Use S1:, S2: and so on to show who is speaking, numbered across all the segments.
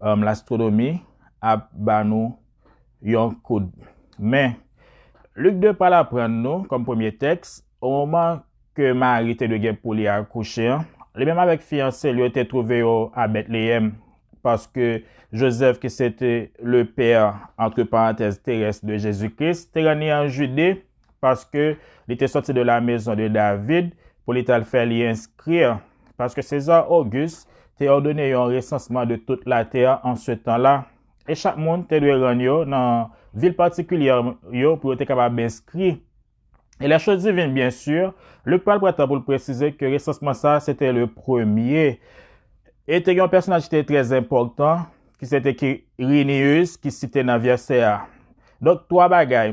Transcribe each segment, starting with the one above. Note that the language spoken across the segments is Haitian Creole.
S1: Lastwonomi ap ba nou yon kout men. Lik 2 pral aprann nou, kòm premye tèks, omoman ke Mari te dwe gen pou li akouche an, li menm avèk fiyanse l yo te twouve yo a Betleyèm, paske Jozèf ki sete lepè, antre parantèz, terès de Jezi Kris, te ranni an Jide. paske li te sòti de lamezon de David pou li t al fè li enskri, paske Seza Ogis te òdone yon resansman de tout latè an se tan la, e chak moun te dwe rann yo nan vil patikilyè yo pou yo te kapab enskri. E lè chos divin, byen si, Lik pral pran tan pou l presize ke resansman sa a se te le premye, e te gen yon pèsonaj ki te trèzenpòtan, ki se te Kirinius, ki site nan vèsè a. Donk, twa bagay.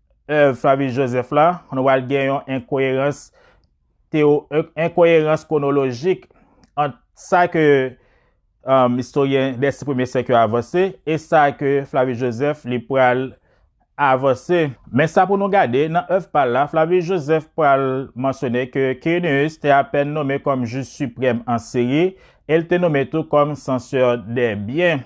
S1: èv Flavius Josèphe la, nou pral gen yon enkoyerans teyo, enkoyerans kwonolojik ant sa ke istoryen dè si premye syèk yo avanse e sa ke Flavius Josèphe li pral avanse. Men sa pou nou gade, nan èv pa l la, Flavius Josèphe pral mansyone ke Quirinus te apèn nome kòm jij siprèm an Siri e l te nome tou kòm sansè dè byen.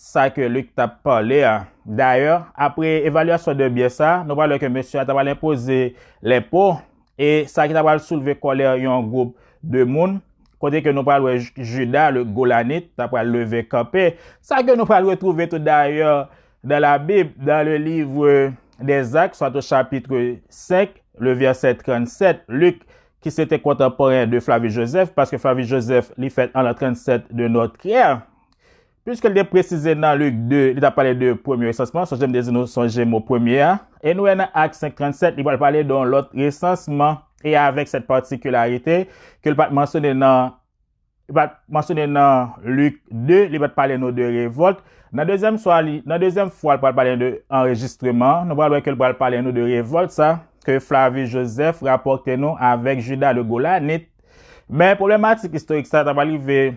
S1: sa ke Luc t ap pale a. Dayè, apre evalyasyon de byen sa, nou pral wè ke mesye a ta pral enpoze lenpo, e sa ki ta pral soulve kòlè yon gwoup de moun, kote ke nou pral wè Juda le Golanit ta pral leve kanpe, sa ke nou pral retwouve tou dayè nan Labib, nan le livre des Actes, soit au chapitre 5, le verset 37, Luc, ki se te kontanporen de Flavius Josèphe, paske Flavius Josèphe li fèt an l'an 37 de notre ère, Piske li te presize nan Lik 2, li t ap pale de premye resansman, sonje m te di nou sonje mo premye a, e nou wè nan Ak 5.37 li pral pale de yon lòt resansman e avèk sèt patikilarite ke l pa t mansyone nan li pa t mansyone nan Lik 2, li pa t pale nou de revòlt. Nan dezyèm swa li, nan dezyèm fwa l pral pale de anrejistreman, nou pral wè ke l pral pale nou de revòlt sa ke Flavi Jozèf rapòte nou avèk Jida le Golanit. Men pwoblematik istorik sa ta pral rive.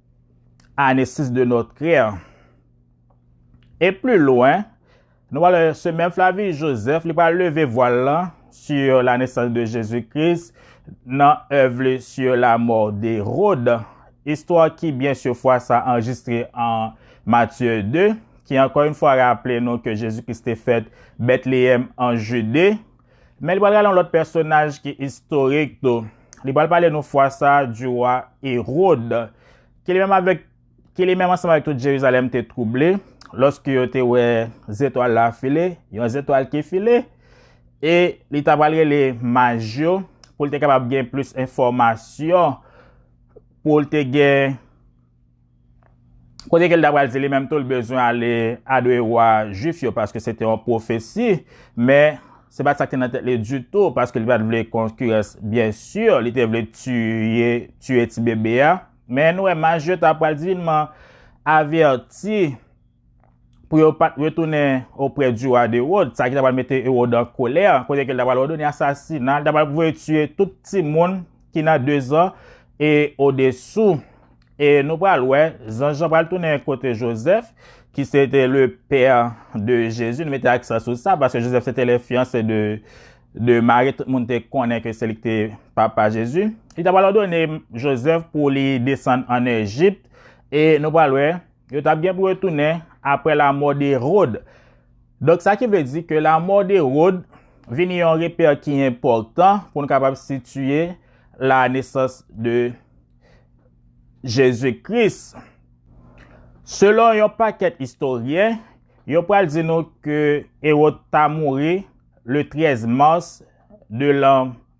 S1: Ane 6 de nòt krè. E pli lwen, nou wè se menm Flavius Josèphe li pral leve vwal lan sur la naissance de Jésus Christ nan èv li sur la mort d'Hérode, istwa ki byen sur fwa sa anrejistre an Matthieu 2, ki ankò yn fwa raple nou ke Jésus Christ te fèt Bethléem an Judée. Men li pral rale yon lòt pèsonaj ki istorik tou. Li pral pale nou fwa sa di wa Erod, ki li menm ansanm avèk tout Jerizalèm te twouble lòske yo te wè zetwal la file, yon zetwal ki file, e li ta pral rele maj yo pou l te kapab gen plis enfòmasyon, pou l te gen Kote ke l ta pral di li menm tou l bezwen ale adore wa Juif yo paske se te yon pwofesi, men se pa t sa ki te nan tèt li ditou paske li pa t vle konkirans. Byensi, li te vle tiye tibebe a, men nou wè maj yo ta pral divinman avèti. pou yo pa t retounen oprè di wa d'Ewod, sa ki ta pral mete Ewod an kolè, kote ke l ta pral òdone asasina, li ta pral voye tiye tout timoun ki nan dezan e odesou. E nou pral wè, zanj lan pral tounen kote Jozèf, ki se te le pè de Jezi, nou mete aksan sou sa, paske Jozèf se te le fiyanse de Mari, tout moun te konnen ke se li ki te papa Jezi. Li ta pral òdone Jozèf pou li desann an Ejipt, e nou pral wè, Yo t ap gen pou yo tounen apre lamò de Rod. Donk sa ki vle di ke lamò de Rod vini yon repè ki enpòtan pou n kapab sitiye la nesans de Jezi Kris. Selon yon pakèt istoryen, yo pral di nou ke Erod ta mouri le 13 mas de lan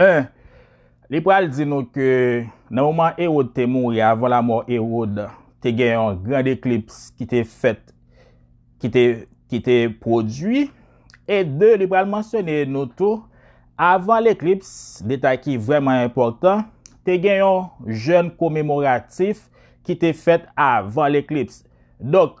S1: 1, Li pral di nou ke nan moman Ewod te mouri, avan lamò Ewod, te gen yon grand eklips ki te fèt, ki te pwodui. E 2, li pral mansyone nou tou, avan leklips, detay ki vrèman enpòtan, te gen yon jèn komemoratif ki te fèt avan leklips. Donk,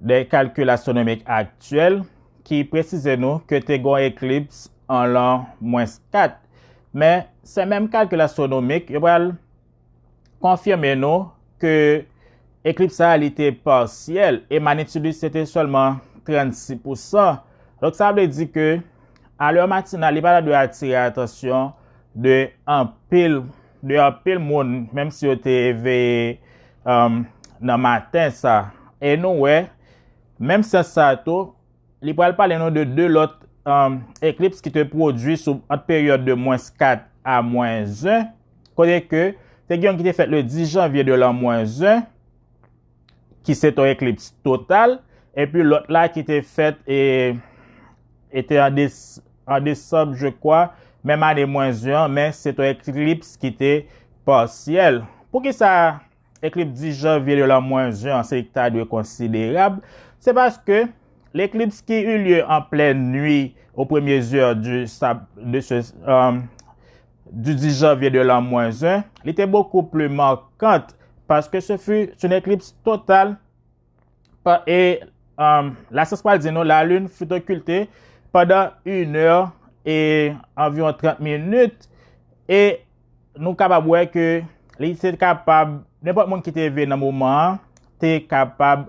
S1: De kalkil astwonomik aktyèl ki presize nou ke te gon eklips an lan mwens 4, men se menm kalkil astwonomik yo pral konfime nou ke eklips sa a li te parsyèl e manitid li se te sèlman 36 pou san. Donk sa vle di ke a lè matinal li pa ta dwe atire atansyon de anpil. De anpil moun, menm si yo te eveye nan maten sa. E nou wè, menm sans sa a tou, li pral pale nou de 2 lòt eklips ki te pwodui sou ant peryòd de mwens 4 a mwens 1, kote ke te gen yon ki te fèt le 10 janvye de lan mwens 1, ki se ton eklips total, epi lòt la ki te fèt e te an desanm je kwa, menm ane mwen 1 an, men se ton eklips ki te pasyèl. Pou ki sa eklips 10 janvye de lan mwen 1 an se li ki ta dwe konsiderab? Se paske leklips ki ilye an plèn nwi o premye zè de se du 10 janvier de l'an mwen 1, li te bokou pli markant paske se fi soun eklips total e la syans pral di nou la lune fout okilte pandan 1 è e anviron 30 minit e nou kapab wè ke li se kapab, nenpòt moun ki te ve nan moman an, te kapab.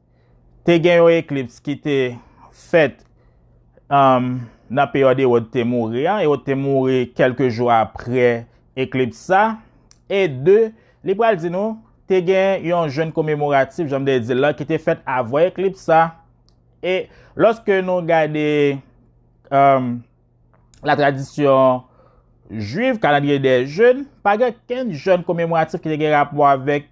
S1: Te gen yon eklips ki te fèt nan peryòd Ewòd te mouri an, Ewòd te mouri kèlke jou apre eklips sa, e 2, li pral di nou, te gen yon jèn komemoratif, jan m te di l lan, ki te fèt avan eklips sa, e lòske nou gade. la tradisyon jwiv, kalandriye dè jèn, pa gen kenn jèn komemoratif ki te gen rapò avèk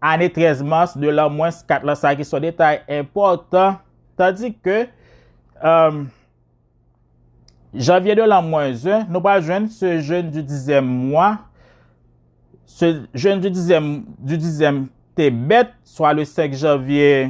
S1: ane 13 mas, 2 lan mwens, 4 lan sa ki son detay enpòtan, tandi ke janvye 2 lan mwens 1, nou pa jwenn se jèn di dizyèm mwa, se jèn di dizyèm te bèt, swa le 5 janvye,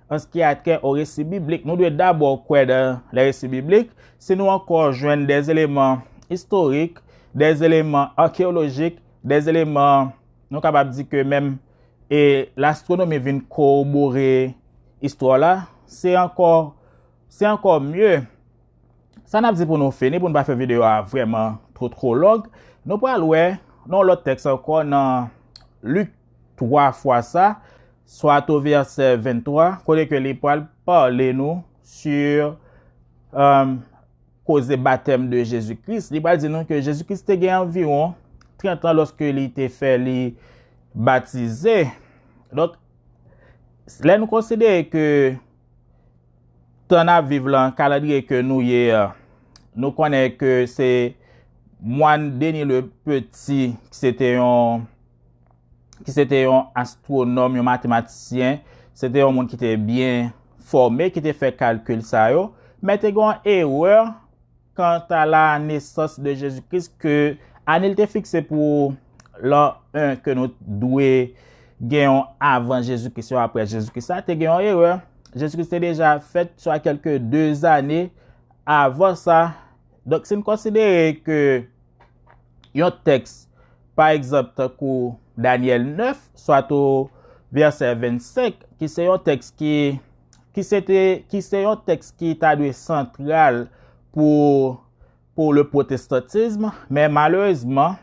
S1: Anski a kè o resi biblik, nou dwe dabò kwè nan lè resi biblik. Si nou ankò jwenn dè eleman istorik, dè eleman akeyolojik, dè eleman nou kapab di ke menm e lastronomi vin korobore istwa w la, se ankò se ankò mye. Sa n ap di pou nou fini, pou nou pa fè videyo a vrèman two twolong, nou pral wè nan yon lòt tèks ankò nan Lik. twa fwa sa, soit au verset 23, kote ke li pwal pale nou sur koze batèm de Jezi Kris, li pwal di nou ke Jezi Kris te gen anviwon 30 ans loske li te fè li batize. Donk, lè nou konsidere ke tan nap viv lan, kalandriye ke nou ye a, nou konnen ke se mwan Denis le Petit, se te yon ki se te yon astwonòm, yon matematisyen, se te yon moun ki te byen fòme, ki te fè kalkil sa yo, men te gen yon erè kanta la nesans de Jezi Kris ke ane li te fikse pou lan 1 ke nou dwe gen yon avan Jezi Kris, yon apre Jezi Kris la, te gen yon erè. Jezi Kris te deja fèt swa kèlke 2 ane avan sa. Donk si n konsidere ke yon tèks pa egzanp tankou Danyèl 9 swa tou vèsè 25 ki se yon tèks ki ki se te ki se yon tèks ki ta dwe santral pou pou le pwotestantism men malerezman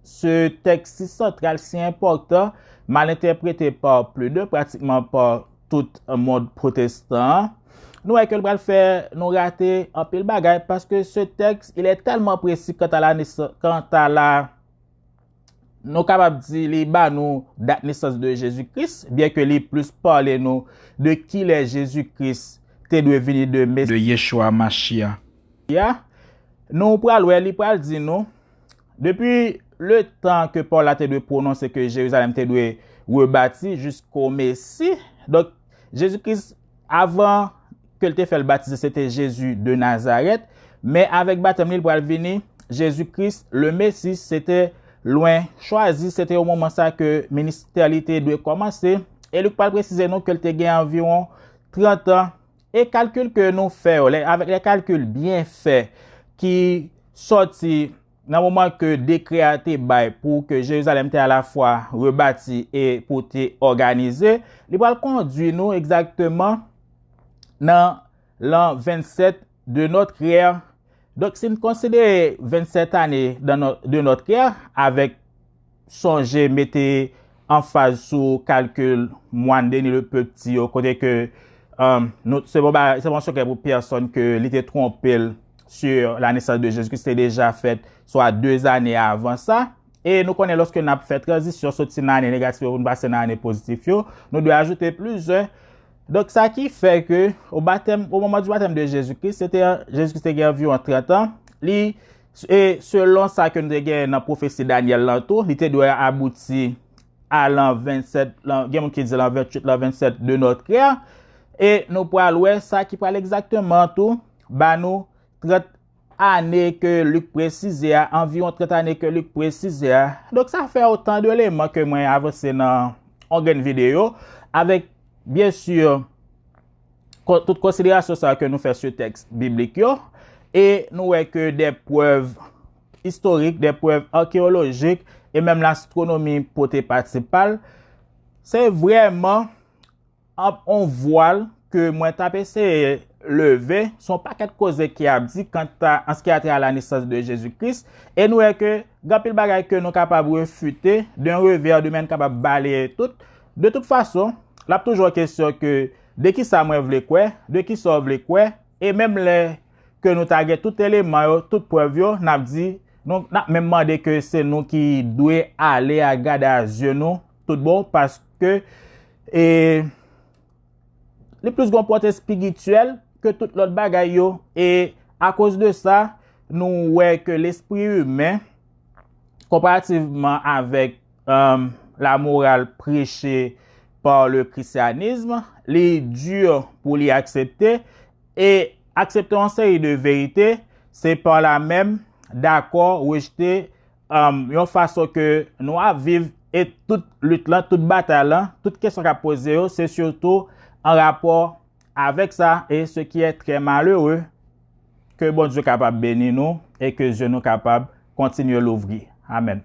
S1: se tèks si santral si enpòtan mal entèprete pa pli de pratikman pa tout mond protestan an, nou wè ke l pral fè nou rate anpil bagay, paske se tèks, il è tèlman presi kanta la, kanta la, nou kapab di li ba nou dat nesans de Jezi Kris, byen ke li plis pale nou de ki lè Jezi Kris te dwe vini de Mesi. De Yeshua Mashia. Ya. Nou pral wè li pral di nou. Depi le tan ke Paul la te dwe pwononse ke Jerizalèm te dwe rebati jisko Mesi, donk Jezi Kris avan ke l te fè l batize se te Jezi de Nazarèt, men avèk batèm li l pral vini Jezi Kris le Mesi, se te lwen chwazi, se te o moman sa ke ministè li te dwe kòmanse, e Lik pral presize nou ke l te gen anviwon trantan E kalkil ke nou fè yo, avèk lè kalkil byen fè ki sòti nan moman ke dekrè a te bay pou ke Jerizalèm te alafwa rebati e pou te òganize, li pral kondwi nou egzakteman nan lan 27 de nòt rè. Donk si n konsidere 27 ane de nòt rè avèk. Sonje mete anfaz sou kalkil Mwann Deni le Pepti yo kote ke se pa yon sekrè pou pèsonn ke li te twonpe l sur la nesans de Jezikri, se te deja fèt swa de zane avan sa. E nou konnen lòske n ap fè tranzisyon soti nan ane negatif yo pou n pase nan ane pozitif yo, nou dwe ajoute plis 1. Donk sa ki fè ke o batèm, o moman di batèm de Jezikri, se te, Jezikri te gen anviwon 30 an, li. E selon sa ke nou te gen nan pwofesi Danyèl lan tou, li te dwe abouti a lan 27, gen moun ki di lan 28, lan 27 de notre ère, e nou pral wè sa ki pral egzakteman tou ba nou 30 ane ke Lik presize a, anviwon 30 ane ke Lik presize a. Donk sa fè otan de eleman ke mwen avanse nan yon grenn videyo, avèk byen sur, tout konsiderasyon sa ke nou fè sou tèks biblik yo, e nou wè ke de prèv istorik, de prèv arkeolojik, e menm lastronomi pote pati pal, se vreman ap on vwal ke mwen tap eseye leve, son pakèt koze ki ap di kanta an se ki a tè a la nesans de Jezi Kris, e nou wè ke gen anpil bagay ke nou kapab refite, de yon revè de men kapab baleye tout, De tout fason, l ap toujou kesyon ke de ki sa mwen vle kwè, de ki sa w vle kwè, e menm lè ke nou ta gen tout eleman yo, tout prèv yo, n ap di, nou, n ap menm mande ke se nou ki dwe ale a gade a zye nou tout bon, paske e li plis gen yon pòte espirityèl ke tout lòt bagay yo, e akoz de sa, nou wè ke lespri imen, konparativman avèk. La morale prêchée par le christianisme, li dur pou li aksepte, e aksepte yon seri de verite, se par la menm dakò rejte yon fason ke nou ap viv, e tout lit lan, tout batay lan, tout kesyon kap poze yo, se surtout an rapò Avèk sa, e se ki è trè malere, ke Bondye kapab beni nou, e ke zye nou kapab kontinye louvri. Amèn.